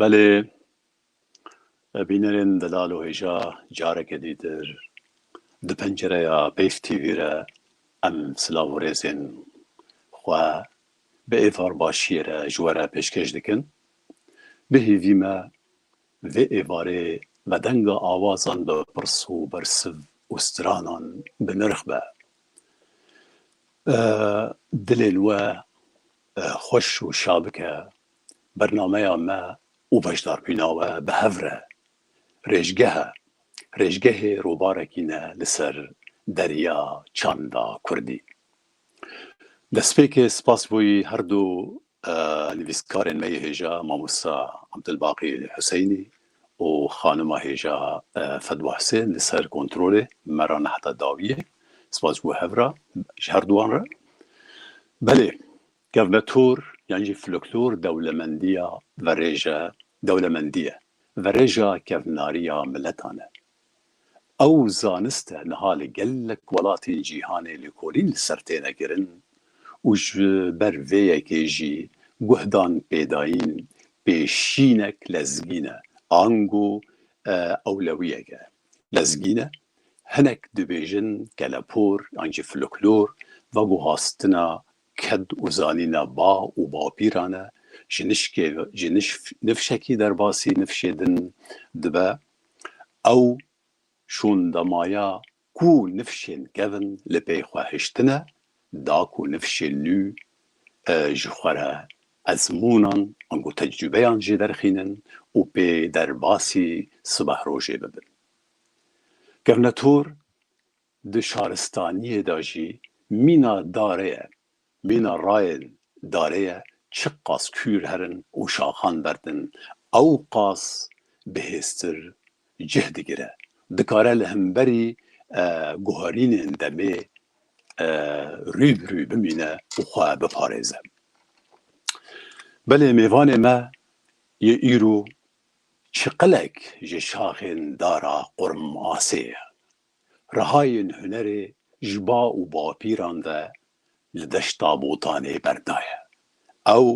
Belê bînerên Delal û Hêja careke dîtir di pencereya Beyf TV re em silav û rêzên xwe bi êvar başiyê re ji we re pêşkêş dikin. Bihîvî me Li vê êvarê me denga awazan bi pirs û bersiv û stranan bi nirx be. Dilên we xweş û şa bike. Bernameya me û beşdarbûna we bi hev re rêjgeh e. Rêjgehê rûbarekî ne li ser derya çanda kurdî. Destpêkê spas bo yî herdu Nivîskarên me yê hêja Mamosta Abdulbaqî Huseynî û xanima hêja Fedwa Husên li ser kontrolê me re ne heta dawî ye. Spas ji bo hev re, ji her duwan re. Belê, kevnetor yan jî floklor dewlemendiya verêje dewlemendî ye. Verêja kevnariya miletan e. Ew zanist e niha li gelek welatên cîhanê lêkolîn li ser têne kirin û ji ber vê yekê jî guhdan pêdayîn pêşînek lezgîn e, ango ewlewiyek e. Lezgîn e, hinek dibêjin kelepor yan jî floklor veguhastina ked û zanîna ba û bapîran e, ji nişkê ji nifşekî derbasî nifşê din dibe Ew şûn da maya ku nifşên kevn li pey xwe hiştine, da ku nifşên nû ji xwe re ezmûnan ango tecrûbeyan jê derxînin û pê derbasî sibeh rojê bibin. Kevnetor Di şaristaniyê de jî mîna darê ye. Mîna rayên darê ye çi qas kûr herin û şaxan berdin ew qas bi hêztir cih digire. Dikare li himberî guherînên demê rû bi rû bimîne û xwe biparêze. Belê mêvanê me yê îro çiqilek ji şaxên dara Qurmasê ye. Rihayên hunerê ji ba û bapîran ve li deşta Botanê berdaye. Ew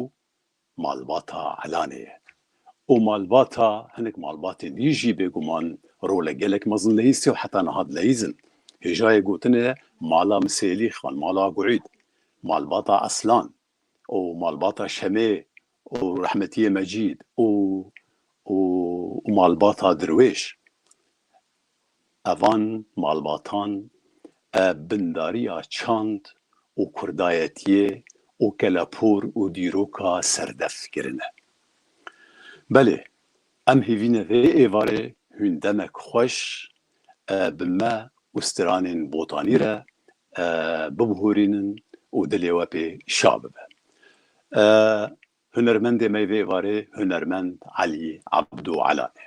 malbata Elanê ye û malbata hinek malbatên din jî bêguman role gelek mezin leyîsî û heta niha dileyîz in. Hêjayê gotin e mala Misêlî xan, mala Guîd, malbata Eslan, û malbata Şemê û rehmetiyê Mecîd û û û malbata Dirwêş. Evan malbatan e bindariya çand û kurdayetiyê û kelepûr û dîroka serdef kirine. Belê Em hêvîne vê êvarê hûn demek xweş bi me û stranên Botanî re bibihûrînin û dilê we pê şa bibe. Hunermendê me vê êvarê hunermend Elî Ebdû Ela ye.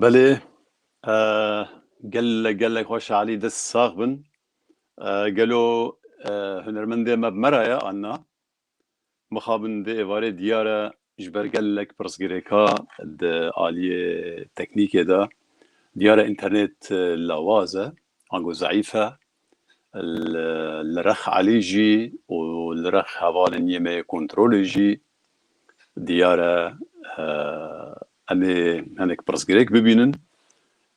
Belê gelek gelek xweş Elî dest sax bin. Gelo hunermendê me bi me re ye anna? Mixabin di êvarê diyar e ji ber gelek pirsgirêka di aliyê teknîkê de diyar e înternet lawaz e ango zeîf e Li Rex Elî jî û li Rex hevalên Yêmeyê Kontrolê jî diyar e. Em ê hinek pirsgirêk bibînin.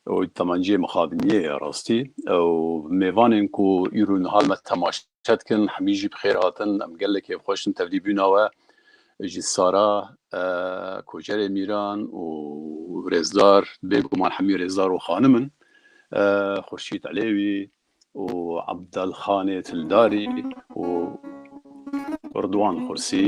Ew temenceyê mixabiniyê ye rastî. Ew mêvanên ku îro niha li me temaşe dikin hemî jî bi xêr hatin. Em gelek kêfxweş in tevlî bûna we. Ji Sara, Koçerê Mîran û Rêzdar bêguman hemî Rêzdar û xanim in. Xurşîd Elêwî û Ebdelxanê Tildarî û Ridwan Xursî.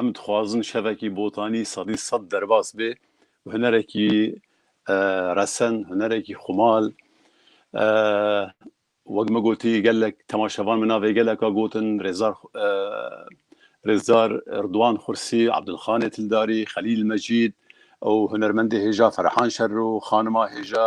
Em dixwazin şevekî botanî sedî sed derbas bê û hunerekî resen, hunerekî xumal wek me gotî gelek temaşevan min navê geleka gotin Rêzar Rêzar Rduan Xursî, Abdulxanê Tildarî, Xelîl Mecîd û hunermendê hêja Ferhan Şerro, xanima hêja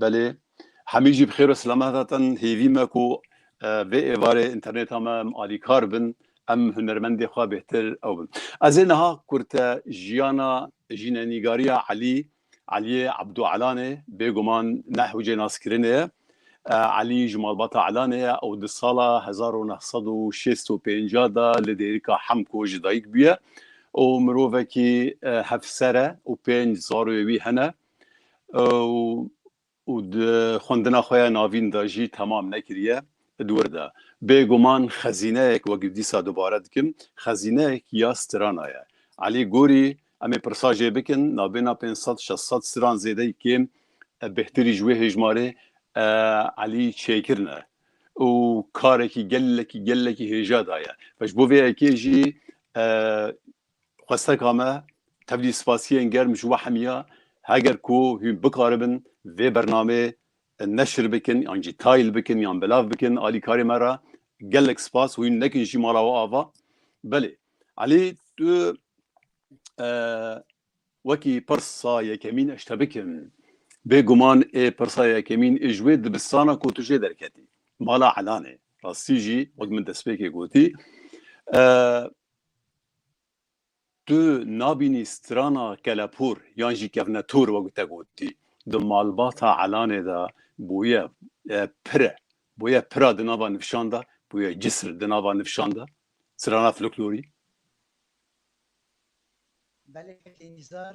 Belê, hemî jî bi xêr û selamet hatin. Hêvî me ku vê êvarê înternêta me em alîkar bin, em hunermendê xwe bêhtir ew bin. Ez ê niha kurte jiyana jînenîgariya Elî, Eliyê Ebdû Elanê, bêguman ne hewcê naskirinê ye. Elî ji malbata Elanê ye û di sala hezar û neh sed û şêst û pênc de li Dêrika Hemko ji dayik bûye û mirovekî hevser e û pênc zaroyê wî hene. û di xwendina xwe ya navîn de jî temam nekiriye di wir de. Bêguman xezîneyek wek dîsa dubare dikim, xezîneyek ya strana ye. Elî Gorî, Em ê pirsa jê bikin, navbêhna pênc sed, şeş sed stran zêdeyî kêm e, bêhtirî ji wê hêjmarê Elî çêkirin e û karekî gelekî gelekî hêja daye. Ji bo vê yekê jî Xwesteka me, tevlî spasiyên germ ji we hemîya, heger ku hûn bikaribin vê bernameyê neşir bikin yan jî tayl bikin yan belav bikin alîkarê me re, gelek spas, hûn nekin jî mala we ava. Belê Elî tu wekî pirsa yekemîn ez ji te bikim, bê guman ê pirsa yekemîn ê ji wê dibistana ku tu jê derketî, mala Elanê, rastî jî wek min destpêkê gotî, Tu nabînî strana kelepûr yan jî kevnetûr wek te gotî di malbata Elanê de bûye pire, bûye pira di nava nivşan de, bûye cisr di nava nivşan de, strana floknorî. Belê Hekîmîzar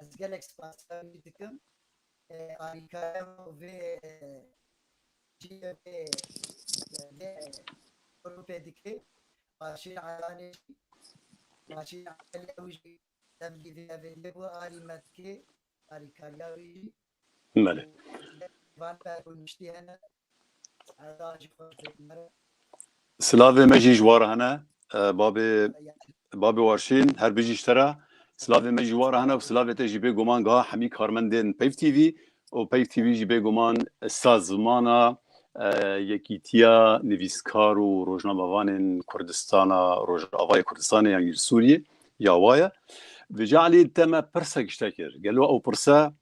Ez gelek spasîya wî dikim alîkariya xwe û vê cihê wê vê grûpê dike. Başîr Eranê jî Başîr Eranê ew jî demgî vê evê dibû alî me dike alîkariya wî jî. Belê. Silavê me jî ji wa re hene. Babê Babê Warşîn her bijî ji te re. Silavê me jî wa re hene û silavê te jî bêguman giha hemî karmendên Peyv TV û Peyv TV jî bêguman sazmana Yekîtiya Nivîskar û Rojnamevanên Kurdistana Rojavayê Kurdistanê yan Sûriyê Ya wa ye. Di calî te me pirsa giştek kir. Gelo ew pirsa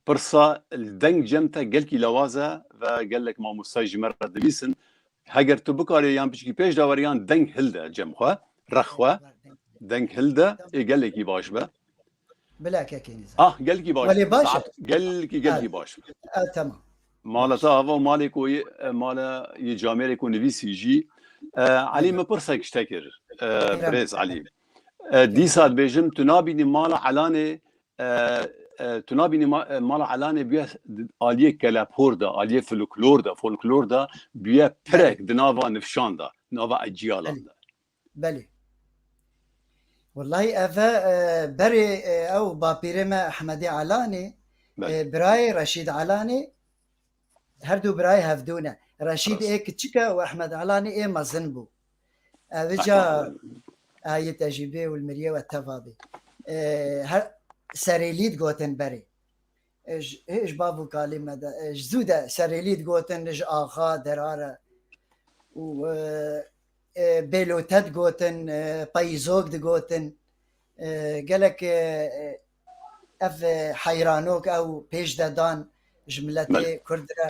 pirsa deng cem te gelkî lawaz e ve gelek mamostay ji me re dilîsin. Heger tu bikarê yan piçkî pêş de were yan deng hilde cem xwe, rex xwe, deng hilde ê gelekî baş be. Bila kekê nîzan. Ah gelkî baş. Welê baş e. Gelkî gelkî baş. E tamam. Mala ta hava malê ku mala yê camêrê ku nivîsî jî Elî min pirsek ji te kir. Birêz Elî. Dîsa dibêjim tu nabînî mala Elanê tu nabînî mala Elanê bûye aliyê kelephor de, aliyê folklor de, folklor de bûye pirek di nava nifşan de, nava ecîyalan de. Belê. Wellahî ev e berê ew bapîrê me Ehmedî Alanê, birayê Reşîd Alanê her du birayê hevdû ne. Reşîd ê kiçik e û Ehmed Alanê ê mezin bû. Ev ca ayê te jî bê û li miriyê we teva bê. Serêlî digotin berê. Ji ji bav û kalê me de ji zû de serêlî digotin li ji axa derare û bêlote digotin peyîzok digotin gelek ev heyranok ew pêş de dan ji miletê Kurd re.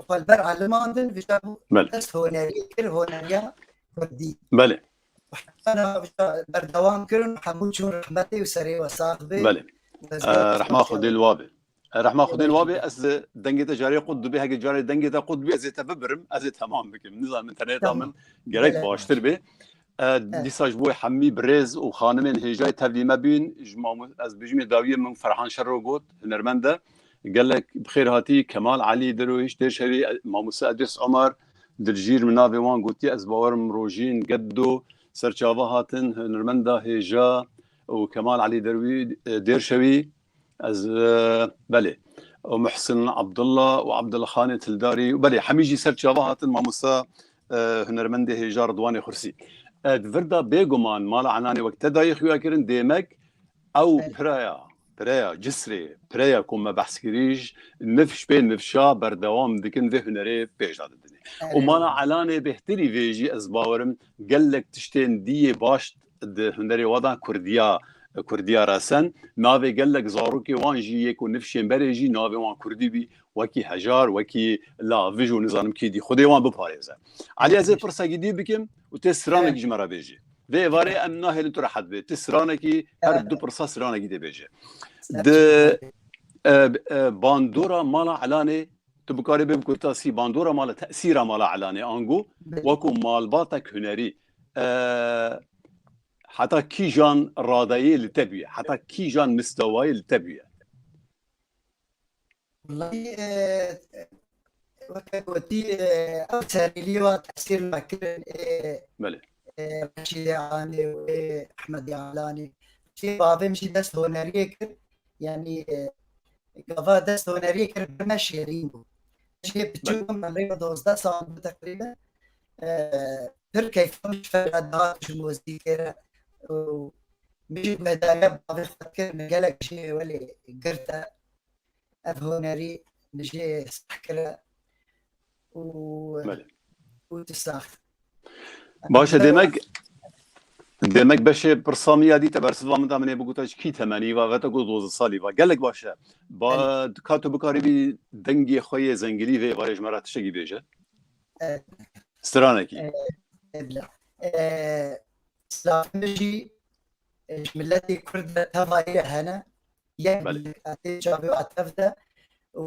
xwe li ber aliman din vija bû dest honeriyê kir honeriya kurdî belê berdewam kirin hemû çûn rehmetê û serê we sax bê rehma xwedê li wabê Rehma xudê wabê ez dengê te carê qut dibê heke carê dengê te qut bê ez ê te bibirim ez ê temam bikim nizanim internet min gerek baştir bê Dîsa ji bo wê hemî birêz û xanimên hêjayê tevlî me bûn. Ji mamo ez bijimê dawiyê min Ferhan Şero got, hunermend e. Gelek bi xêr hatî. Kemal Elî dirûhîşt dê şevî. Mamoste Edrîs Omar Diljîr min navê wan gotiye. Ez bawer im rojîn geddo ser çava hatin hunermenda hêja û Kemal Elî derwî dêr şevî. Ez belê. O Muhsin Abdulla û Abdulxanê Tildarî û belê hemî jî ser çava hatin mamosta hunermendê hêja Ridwanê Xursî. Di vir de bêguman mala Enanê wek te dayê xuya kirin dêmek ew piraya pireya cisrê pireya ku me behs kirî ji niv pê nivşa berdewam dikin vê hunerê pêş de didin. Û mala Elanê bêhtirî vê jî ez bawerim gelek tiştên dîyê baş Di hunerê wan de Kurdiya Kurdiya resen navê gelek zarokê wan jî yê ku nifşên berê jî navê wan Kurdî bî wekî hejar wekî lavij û nizanim kî dî xudê wan biparêze. Elî ez ê pirsekî dî bikim û tê stranekî ji me re bêjî. Vê êvarê em nahêlin tu rehet bê. Ti stranekî her du pirsa stranekî dê bêjî. Di bandora mala Elanê tu bikarê bê bi kurtasî bandora mala tesîra mala Elanê ango wekû malbatek hunerî Heta kîjan radeyê li te bûye? Heta kîjan mistewayê li te bûye? Weke gotî ew serîlî wa tesîr nakirin ê Reşîdê Alanê û ê Ehmedê Alanê. Reşîdê bavê min jî dest honeriyê kir yanî gava dest honeriyê kir bi me şêrîn bû. Ji yê biçûk bûm me rêya dozdeh sal bû teqrîben. pir keyfa min ji te re dihat ji mozîkê re û min jî guhdarîya bavê xwe dikir min gelek ji êwelê girte ev hunerî min jê sah kire û û tu sah Baş e demek demek beşê pirsa min ya dîte bersiva min da min ê bigota ji kî temenî va vete ku doze salî va gelek baş e ba dika tu bikarî bî dengê xwe yê zengilî vê va yê ji me re tiştekî bêje stranekî silafinê jî ji miletê kurd de teva ê re hene yek atê çavê wa tev de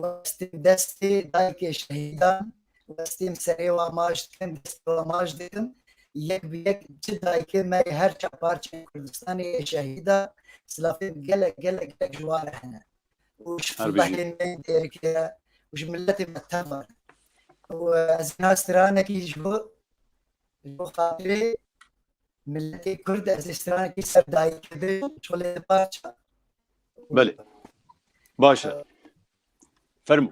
westên destê dayikê şehîdan westên serê wa maş dikin destê wa maş dikin yek bi yek çi dayikê me yê her çar parçeyên kurdistanê yê şehîda silafên gelek gelek gelek ji wan re hene û ji filmehên me dereke û ji miletê me tevane û ez niha stranekî ji bo ji bo xatirê miletê Kurd ez ê stranekî ser dayî kevê çolê di parça. Belê. Baş e. Fermû.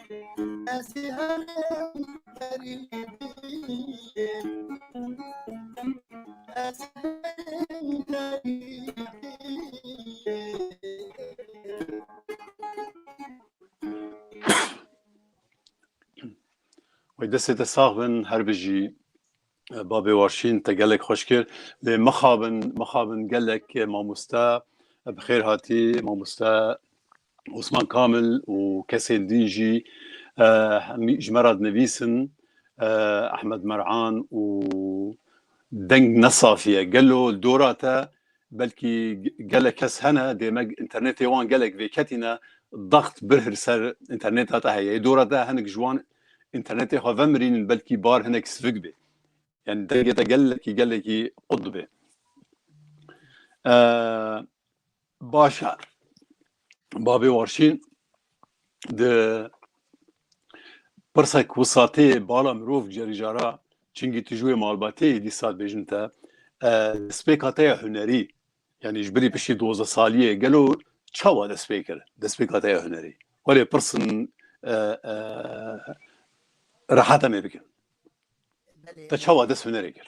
Ezi herem geriye Ezi herem geriye Wê destê te sax bin her bijî babê warşîn te gelek xweş kir lê mixabin mixabin gelek mamoste bi xêr hatî mamoste Osman Kamil û kesên din jî ji me re dinivîsin, Ehmed Mer'an û deng ne safî ye. Gelo dora te belkî gelek kes hene dê me înternetê wan gelek vêketîne daxt birhir ser înterneta te heye. Yê dora te hinek ji wan înternetê xwe vemirînin belkî bar hinek sivik bê. Yanî dengê te gelekî gelekî qut dibê. Baş e. Babê Warşîn di pirsek wisatê bala mirov cerî jara çingî tu ji wê malbatê yî dîsa dibêjin te destpêka te ya hunerî yanî ji birî piştî doze saliyê gelo çawa dest pê kir destpêka te ya hunerî welê pirsin rehata me bikin te çawa dest hunerê kir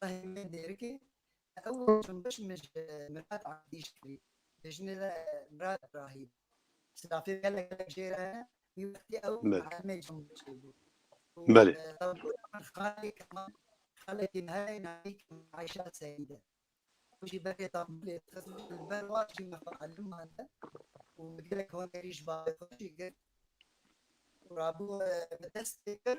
Tahîr Mên Dêrikê, Ew cûnbeş min ji Mirad Abdî ji kirî, bi jinê ve Mirad Brahî bû. Sirafê gelek gelek jê re hene, wî wextî ew muellimê cûnbeşê bû û tevgera min xalê Kemal, xalekî me heye navê Kemal Ayşa Seîd e. Ew jî berê Tembûlê dixist û li ber wan jî me muellim mande û min gelek honerî ji bavê xwe jî girt û rabû me dest pê kir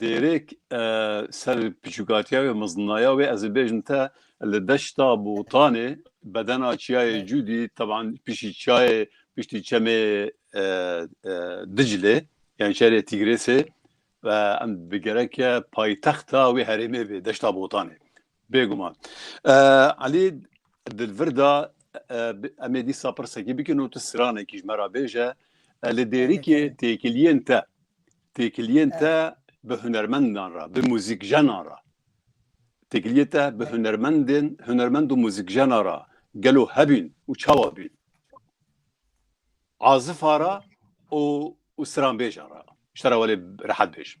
Dêrêk ser piçûkatiya wê, mizninaya wê ez ê bêjim te li deşta Botanê bedena çiyayê Cûdî teban piştî çiyayê piştî çemê Diclê yani şerê Tîgrêsê ve em bi gereke paytexta wê herêmê bê deşta Botanê. Bêguman. Elî di vir de em ê dîsa pirsekî bikin û tu stranekî ji me re bêje li dêrikê têkiliyên te têkiliyên te bi hunermendan re bi muzîkjenan re têkiliyê te bi hunermendên hunermend û muzîkjena re gelo hebîn û çawa bîn azifa re û û stranbêjan re ji te re welê rehet bêjim.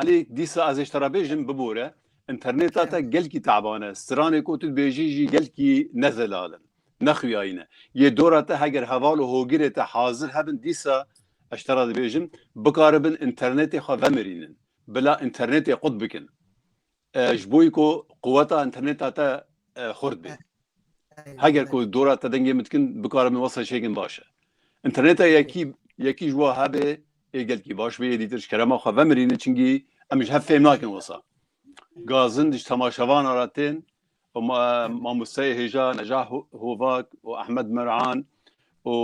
Elî dîsa ez ê ji te re bêjim bibore. Înternêta te gelkî taban e. Stranê ku tu dibêjî jî gelkî ne zelal in, ne xuyayîn e. Yê dora te heger heval û hogirê te hazir hebin dîsa ez ji te re dibêjim bikaribin înternêtê xwe vemirînin. Bila înternêtê qut bikin. Ji bo ku quweta înterneta te xurt bê. Heger ku dora te dengê min dikin bikare min wasa çêkin baş e. Înterneta yekî yekî ji wa hebê ê gelkî baş bê êdî tiriş kerema xwe vemirînin çinkî em ji hev fêm nakin wisa. Gazin di ji temaşevana re tên û mamosteyê hêja Necah Hovak û Ehmed Mer'an û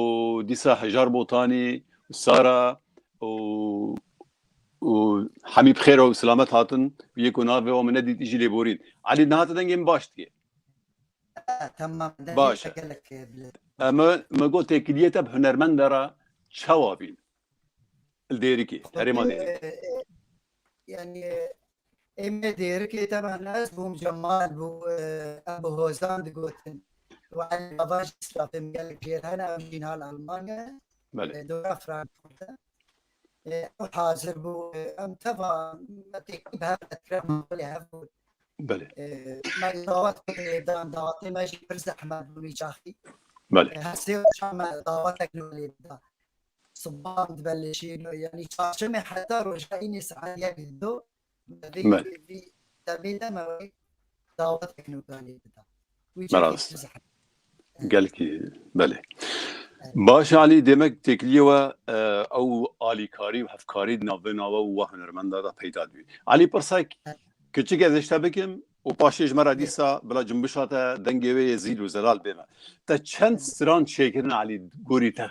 dîsa Hejar Botanî û Sara û û Hemî bi xêr û silamet hatin û yê ku navê wan min nedît îjî lê borîn. Elî nihate dengê min baş dike. Tamam dengê Baş e. te gelek e bile. Em mi got têkiliyê te bi hunermende re çawa bîn? Li Dêrikê, herêma Dêrikê. Yanî êmê Dêrikê teban ez bûm Cemal bû em bi hozan digotin. Wê Elî Bava jî stafê min gelek jêr hene ew jî niha li Elmanya ye. Dora Frankfurt e. Ew hazir bû em teva me têkî bi hev qetkira malê hev bûn. Belê. Me dawet kir lêdan dawetê me jî pir zehmet bû nîçaxî. Belê. Her sê roja me dawetek li wê lêda. Sibahan dibe li şêno yanî çarşemê heta roja înê saet yek li do me vê Me. vê demê de me wê dawetek nûkanê bida. Wî Me çekê rast. tu zehmet. Gelkî belê. Baş Alî demek têkiliyê we e, ew alîkarî û hevkarî di nav vêna we û we hunermenda de peyda dibî. Alî pirsek kiçik ez ê ji te bikim û paşê ji me re dîsa bila cimbişa te dengê wê yê zîl û zelal bême. Te çend stran çêkirine Alî gorî te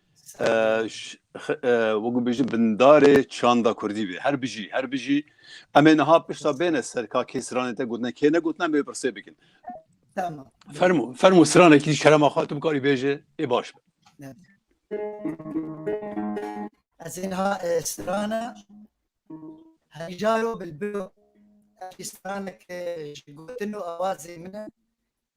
Wekî bêjin bindarê çanda kurdî bê. Her bijî, her bijî. Em ê niha pişta bêne ser ka kê stranê te gotine kê negotine em ê pirsê bikin. Tamam. Fermo, fermo stranekî şerema xwe tu bikarî bêje ê baş be. Ez ê niha strana hejaro bilbilo. Ev stranek ji gotin û awazê min e.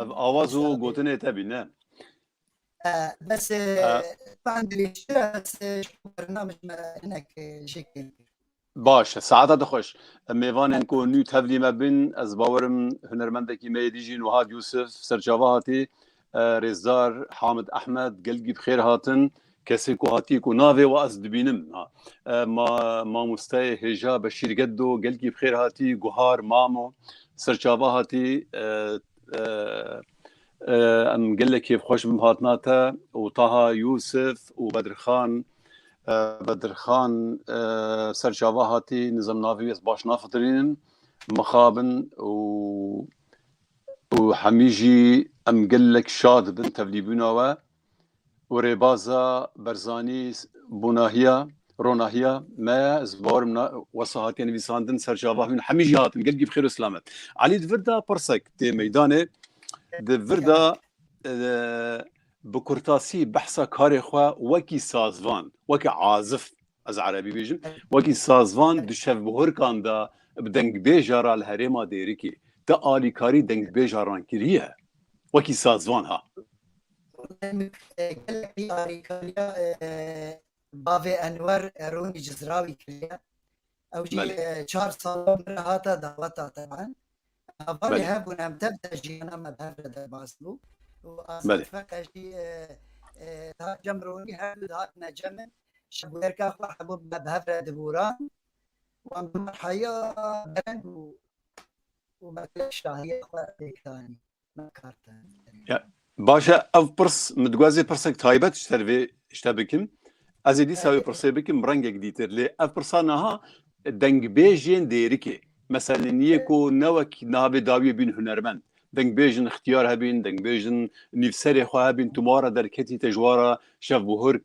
Ev awaz û gotinê te bî ne. Bes ben dirêjtir e bes bernamej me hinek jê kêr kir. Baş e saeta di xweş. Em mêvanên ku nû tevlî me bin ez bawerim hunermendekî me yê dî jî Nuhad Yûsif serçava hatî. Rêzdar Hamid Ehmed gelgî bi xêr hatin. Kesê ku hatiye ku navê we ez dibînim ha. Ma mamosteyê hêja Beşîr Geddo gelkî bi xêr hatî guhar mamo serçava hatî em gelek kêfxweş bim hatina te û Taha Yûsif û Bedirxan Bedirxan serçava hatî nizem navê ez baş nafitirînim mixabin û û hemî jî em gelek şad bin tevlîbûna we û rêbaza Berzanî bûnahiya, ronahiya me ye. Ez bawerim na wesa hatiye nivîsandin ser çava hûn hemî jî hatin. Gelkî bi xêr û silamet. Elî di vir de pirsek tê meydanê. Di vir de bi kurtasî behsa karê xwe wekî sazvan, wekî azif Ez erebî bêjim. Wekî sazvan di şevbihurkan de bi dengbêja re li herêma Dêrikê te alîkarî dengbêja rankiriye? Wekî sazvan ha. Gelekî alîkariya bavê Enwer Erûnî Cizrawî kiriye. Ew jî çar sal min re hate daweta teban. Havalê hebûn em tev de jiyana me bi hev re derbas bû û Azad Feqe jî Tahir Cem Rûnî her du hatine cem in. ji bûyerka xwe hebû me bi hev re digoran. Wan bi merheya dereng û û merheya şahiya xwe pêk danî. Me kar te. Baş e, ev pirs min diguhazê pirsek taybet ji ser vê şte bikim. Ez ê dîsa wê pirsê bikim rengek dîtir. Lê ev pirsa niha dengbêjên dêrikê. Meselên yê ku ne wek niha vê dawiyê bîn hunermend. Dengbêjin xtiyar hebîn, dengbêjin nîvserê xwe hebîn, tu mara derketî te ji wara şevbûhurk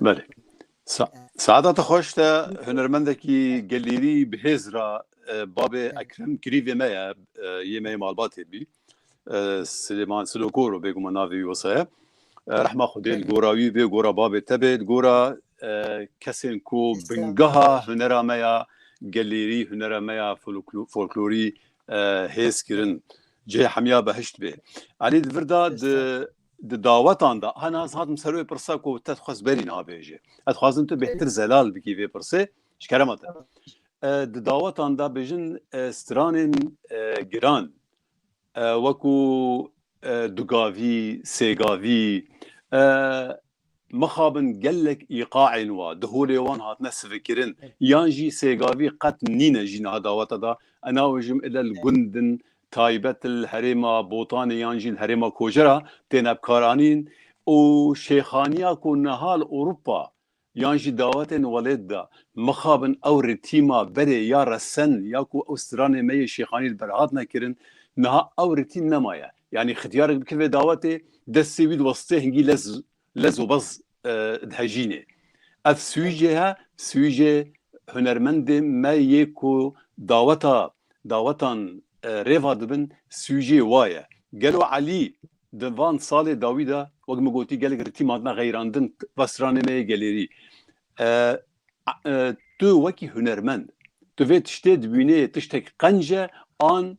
Belê. Saeta te xweş te hunermendekî gelêrî bi hêz ra babê Ekrem kirîvê me ye yê me yê malbatê bî Silêman Silokoro bêguman navê wî wisa ye rehma xwedê li gora wî bê gora babê te bê gora kesên ku bingeha hunera me ya gelêrî hunera me ya folklorî hêz kirin cihê hemiya behişt bê Elî di vir de di Di dawetan de hana ez hatim ser wê pirsa ku te dixwest berî niha bêjê. Ez dixwazim tu bêhtir zelal bikî vê pirsê ji kerema te. Di dawetan de bijin stranên giran wekû dugavî, sêgavî, Mixabin gelek îqaên wa di holê wan hatine sivikirin yan jî sêgavî qet nîne jî niha daweta da enawêjim ile li gund in taybet li herêma Botanê yan jî li herêma Kocera têne bikaranîn û şêxaniya ku niha li Ewropa yan jî dawetên welêt de mixabin ew rê tîma berê ya resen ya ku ew stranê me yê şêxanî li ber hatine kirin niha ew rê tîm nemaye. Yanî xityarek bike vê dawetê, destê wî diweste hingî lez lez û bez dihejînê. Ev sûcê he, sûcê hunermendê me yê ku daweta dawetan rêva dibin sûcê wa ye. Gelo Elî di van salê dawî de wek min gotî gelek ritî matime xeyrandin va stranê me yê gelêrî. Tu wekî hunermend tu vê tiştê dibînê tiştek qenc e an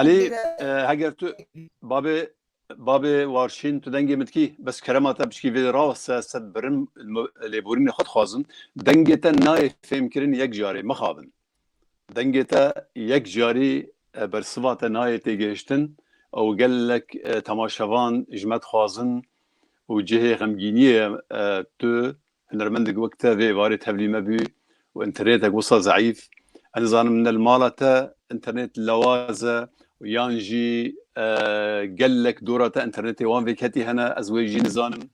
Elî heger tu babê babê warşîn tu dengê min dikî bes kerema te biçkî vê rast e sed birim lêborînê xwe dixwazim dengê te nayê fêmkirin yek carê mixabin. Dengê te yek carî bersiva te nayê têgihiştin û gelek temaşevan ji me dixwazin û cihê xemgîniyê tu hunermendek wek te vê varê tevlî me bû û înternetek wisa zeîf ez nizanim ne li mala te înternet lawaz e û yan jî gelek dora te înternetê wan vêketî hene ez wê jî nizanim.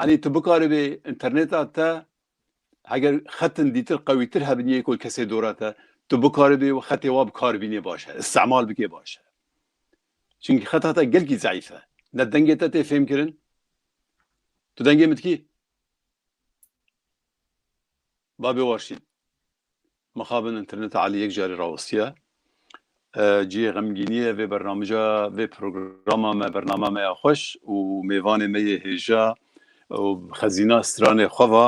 Enî tu bikaribê înterneta te Heger xetin dîtir qewîtir hebin yê ku kesê dora te, tu bikaribî û xetê wa bi kar bînê baş e, îstimal bikê baş e. Çimkî xeta te gelkî zeîf e. Ne dengê te tê fêmkirin. Tu dengê min dikî? Babê Warşîn. Mixabin interneta Elî yek carî rawistiye. Cihê xemgînî ye vê bernamija vê programa me bernama me ya xweş û mêvanê me yê hêja û xezîna stranê xwe va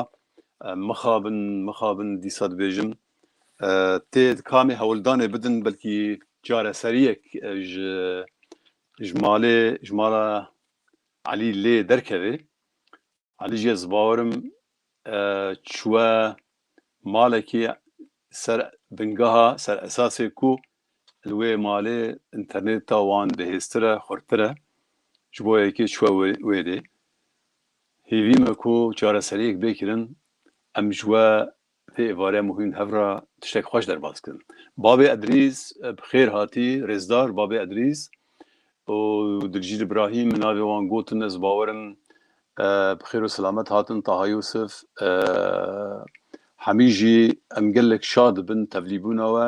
Mixabin, mixabin dîsa dibêjim tê di kamê hewldanê bidin belkî careseriyek ji ji malê ji mala Elî lê derkevê Alî jî ez bawer im çûye malekî ser bingeha, ser esasê ku li wê malê înternêt ta wan bihêztir e, xurttir e. Ji bo yekê çûye wê dê. Hêvî me ku çareseriyek bê kirin. Em ji we Bi vê êvareya muhîm hev re tiştek xweş derbas kirin. Babê Edrîs, bi xêr hatî, rêzdar Babê Edrîs û Dilcîl Îbrahîm min navê wan gotin, ez bawer im bi xêr û silamet hatin, Taha Yûsif, Hemî jî em gelek şad dibin tevlîbûna we.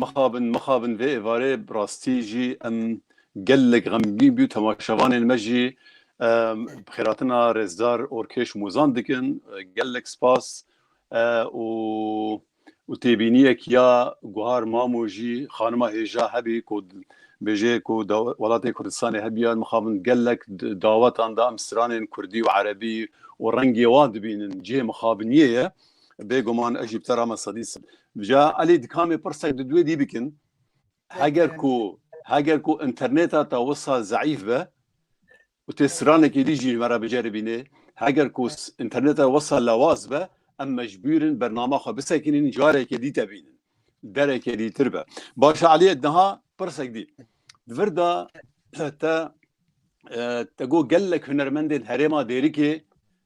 Mixabin mixabin vê êvarê bi rastî jî em gelek xemgîn bû temaşevanên me jî bi xêratina rêzdar Orkêş Mozan dikin gelek spas û û têbîniyek ya Guhar Mamo jî xanima hêja hebî ku bêje ku welatê Kurdistanê hebiya mixabin gelek dawetan da em stranên Kurdî û Erebî û rengê wan dibînin cihê mixabiniyê ye. bêguman ez jî bi te re me sedî sim. Ja Elî dikamê pirsek di duê dî bikin. Heger ku heger ku interneta te wisa zeîf be û tê stranekê dî jî me re biceribînê heger ku interneta wisa lewaz be em mecbûrin bernama xwe bisekinîn carekê dî te bînin derekê dî tir be. Başa Eliyê diha pirsek dî. Vir da te te got gelek hunermendên herêma dêrikê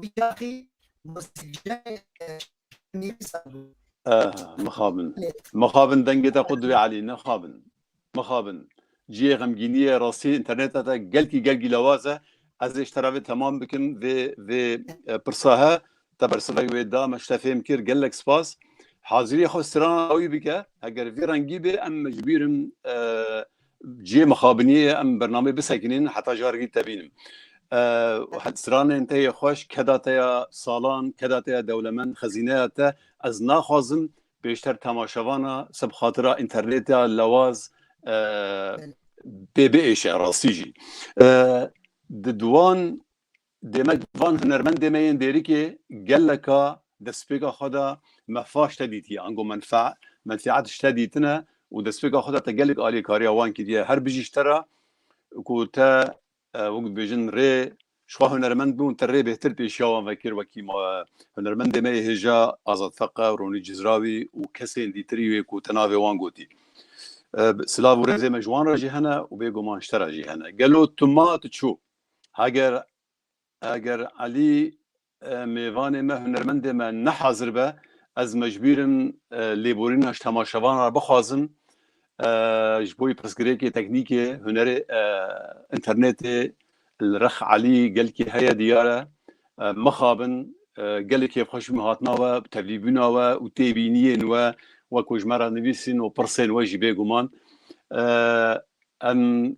Wî taxî muzîkjiyayê Nîrîsa bû. Ah, mixabin. Mixabin dengê te xwe divê Elî, nexabin. Mixabin. Ciyê xemgînî ye, rastî înterneta te gelkî gelkî lawaz e. Ez ê ji te re vê temam bikim vê vê pirsa he. Te bersivek wê da me ji te fêm kir. Gelek spas. Hazirîya xwe strana dawî bike. Heger vê rengî bê em ji bîr in Ciyê mixabiniyê ye em bernameyê bisekinîn heta carekî te bînim. Stranên te yê xweş, keda te ya salan, keda te ya dewlemend, xezîneya te ez naxwazim pêşter temaşevana se bi xatira înternetê ya lewaz pê biêşe rastî jî di wan Dê me van hunermendê me yên dêrikê geleka destpêka xwe de mefa ji te dîtiye, ango menfe menfîet ji te dîtine û destpêka xwe de te gelek aliyê kariya wan kiriye. Her bijî ji te re ku te wek dibêjin rê ji xwe hunermend bû û te rê bêhtir pêşiya wan vekir wekî ma hunermendê me yê hêja Azad Feqe, Ronî Cizrawî û kesên dîtirî wê ku te navê wan gotî. Silav û rêzê me ji wan re jî hene û bêguman ji te re jî hene. Gelo tu ma tu çû? Heger heger Elî mêvanê me hunermendê me nehazir be ez mecbûr im lêborîna ji temaşevan re bixwazim ji bo pirsgirêkê teknîkê hunerê înternetê li rex Elî gelkî heye diyar e mixabin gelê kêfxweş bûm hatina we tevlîbûna we û têbîniyên we we ku ji me re nivîsîn û pirsên we jî bêguman Em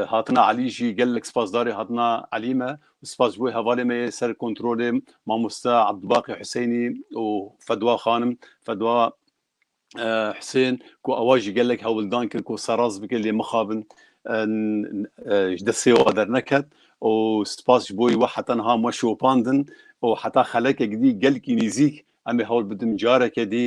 hatina Elî jî gelek spasdarê hatina Elî me û spas ji bo hevalê me yê ser kontrolê mamoste Abdubaqî Huseynî û Fedwa Xanim, Fedwa Husên, ku ewa jî gelek hewldan kir ku serrast bike lê mixabin ji destê wan derneket û spas ji bo wê heta niha me şopandin û heta xelekek dî gelkî nîzîk em ê hewl bidin careke dî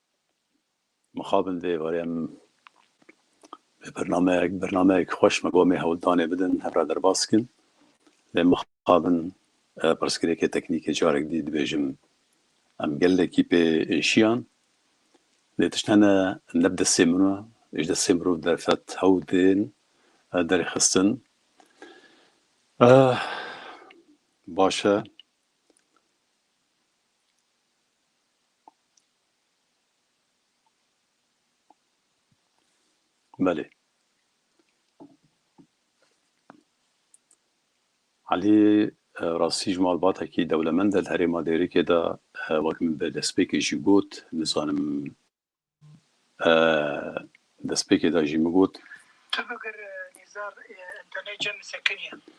Mixabin vê êvarê em vê bernameyek bernameyek xweş me gomê hewldanê bidin hev re derbas kin. Lê mixabin pirsgirêkê teknîkê carek dî dibêjim em gelekî pê êşiyan. Lê tişt hene ne bi destê min e, ji destê mirov derfet hewl tên derxistin. Baş e. Belê. Elî rastî ji malbatekî dewlemend e li herêma Dêrikê de wek min bi destpêkê jî got nizanim destpêkê de jî min got. Tu bigir nîzar em tenê cem li ser kenî ye.